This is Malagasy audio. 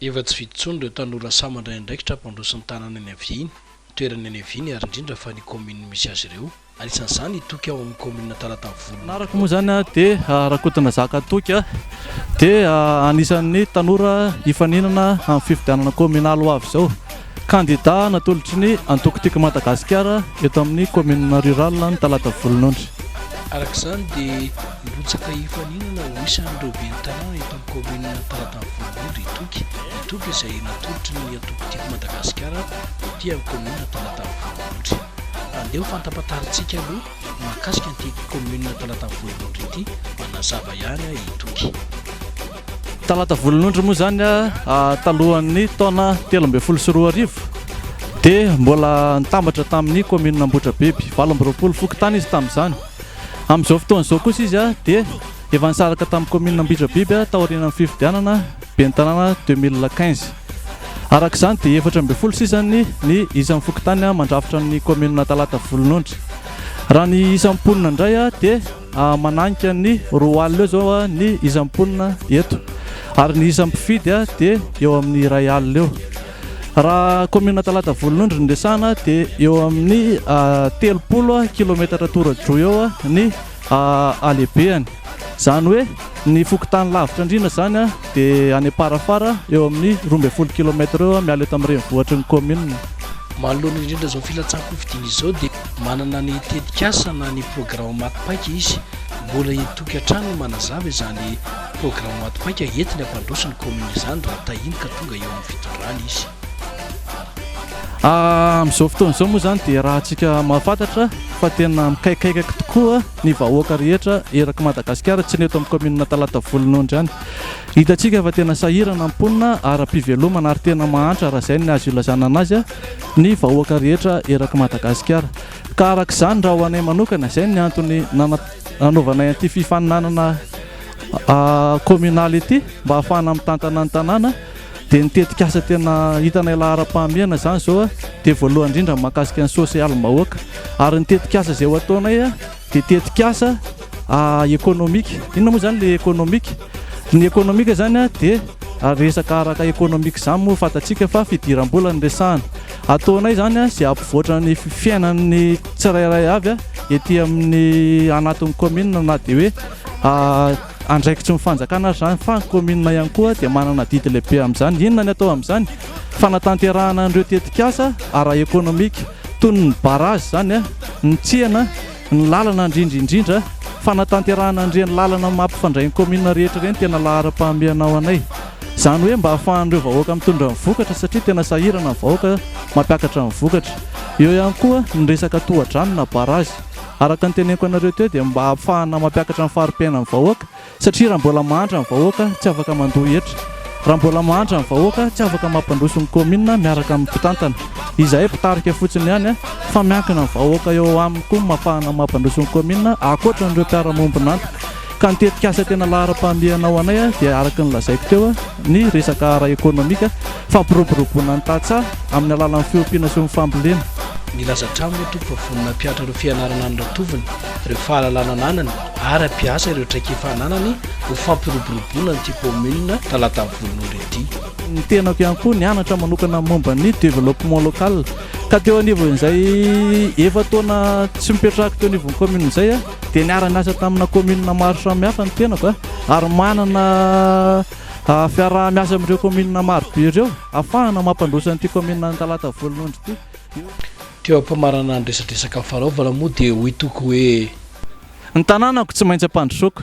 Efa tsy vitsy intsony ireo tanora sahy mandray andraikitra hampandroso ny tanàna eny haviany, ny toerana eny haviany ary indrindra fa ny kaominina misy azy ireo. Anisan'izany i Toky ao amin'ny kaominina Talatavolo. Ny anarako moa izany dia Rakotonazaka Toky dia anisan'ny tanora hifaninana amin'ny fifidianana kaominaly ho avy izao. Kandidà natolotry ny antoko Tiko Madagasikara eto amin'ny kaominina Rurale ny talata volonondry. Araka izany dia mirotsaka hifaninana ho isan'ireo ben'ny tanàna eto amin'ny kaominina ny talata volonondry i Toky. I Toky izay natolotry ny antoko Tiko Madagasikara ety amin'ny kaominina talata volonondry. Andeha ho fantampataritsika aloha ny mahakasika an'ity kaominina talata volonondry ity, manazava ihany i Toky. Talata volonondry moa izany talohan'ny taona telo ambin'ny folo sy roa arivo dia mbola nitambatra tamin'ny kaominina Ambohidrabiby valo amby roapolo fokontany izy tamin'izany. Amin'izao fotoana izao kosa izy dia efa nisaraka tamin'ny kaominina Ambohidrabiby taorianan'ny fifidianana ben'ny tanàna 2015. Araka izany dia efatra ambin'ny folo sisa ny ny isan'ny fokontany mandrafitra ny kaominina Talata volonondry. Raha ny isan'ny mponina indray dia Mananka ny roa alina eo izao ny isan'ny mponina eto ary ny isan'ny mpifidy dia eo amin'ny iray alina eo. Raha kaominina Talata Volonondry ny resahana dia eo amin'ny telopolo kilaometatra tora-droa eo ny halehibehany. Izany hoe ny fokontany lavitra andriana izany dia any Amparafara eo amin'ny roa ambin'ny folo kilaometatra eo miala eto amin'ny renivohitry ny kaominina. Manoloana indrindra izao filatsahan-kofidiana izao dia. Manana ny tetikasa na ny programa maty paika izy. Mbola hitoky hatrany ny manazava izany programa maty paika entiny hampandroso ny kaominina izany raha tahiny ka tonga eo amin'ny fitondrana izy. Amin'izao fotoana izao moa izany dia rahantsika mahafantatra fa tena mikaikaikaky tokoa ny vahoaka rehetra eraky Madagasikara, tsy ny eto amin'ny kaominina Talatavolo Nondry ihany. Hitantsika fa tena sahirana ny mponina ara-pivelomana ary tena mahantra raha izay ny azo ilazana anazy. ny vahoaka rehetra erak'i Madagasikara. Ka araka izany raha ho anay manokana, izay ny antony nanaovanay an'ity fifaninanana kaominaly ity mba hahafahana mitantana ny tanàna, dia ny tetikasa tena hitanay laharam-pahamehana izany izao dia voalohany indrindra ny mahakasika ny sosialim-bahoaka ary ny tetikasa izay ho ataonay Dia tetikasa ekonomika. Inona moa izany ilay ekonomika? Ny ekonomika izany dia resaka araka ekonomika izany moa fantatsika fa fidiram-bola no resahana. Ataonay izany izay hampivoatra ny fiainan'ny tsirairay avy ety amin'ny anatin'ny kaominina na dia hoe andraikitry ny fanjakana aza izany fa ny kaominina ihany koa dia manana adidy lehibe amin'izany. Inona ny atao amin'izany? Fanatanterahana an'ireo tetikasa ara-ekonomika. Toy ny barrage izany ny tsena, ny lalana indrindra indrindra, fanatanterahana an'ireny lalana mampifandray ny commune rehetra ireny tena laharam-pahamehana ho anay. Izany hoe mba ahafahan'ireo vahoaka mitondra ny vokatra satria tena sahirana ny vahoaka mampiakatra ny vokatra. Eo ihany koa ny resaka tohadrano na barrage. Araka ny teneniko anareo teo dia mba ampfahana mampiakatra ny fari-piainan'ny vahoaka Satria raha mbola mahantra ny vahoaka, tsy afaka mandoa hetra. Raha mbola mahantra ny vahoaka, tsy afaka mampandroso ny kaominina miaraka amin'ny mpitantana. Izahay mpitarika fotsiny ihany fa miankina amin'ny vahoaka eo aminy koa ny mapahana mampandroso ny kaominina ankoatra an'ireo mpiara-miombon'antoka. Ka ny tetikasa tena laharam-pahamehana ho anay dia araka ny lazaiko teo ny resaka ara-ekonomika, fampiroboroboana ny tantsaha amin'ny alalan'ny fiompiana sy ny fambolena. Nilaza hatramin'ny Tompo fa vonona hampihatra ireo fianarana any Ratovony, ireo fahalalana ananany, ary hampiasa ireo traikefa ananany ho fampiroboroboana an'ity commune Talatavy Voan'ondry ity. Ny tenako ihany koa nianatra manokana momba ny développement local ka teo anivon'izay efa-taona tsy mipetrahako teo anivon'ny commune izay aho dia niara-niasa tamina commune maro samihafa ny tenako ary manana fiaraha-miasa amin'ireo commune marobe ireo afahana mampandroso an'ity commune Talatavy Voan'ondry ity. Teo am-pamarana ny resadresaka nifaraovana moa dia hoy Toko hoe. Ny tanànako tsy maintsy ampandrosoako.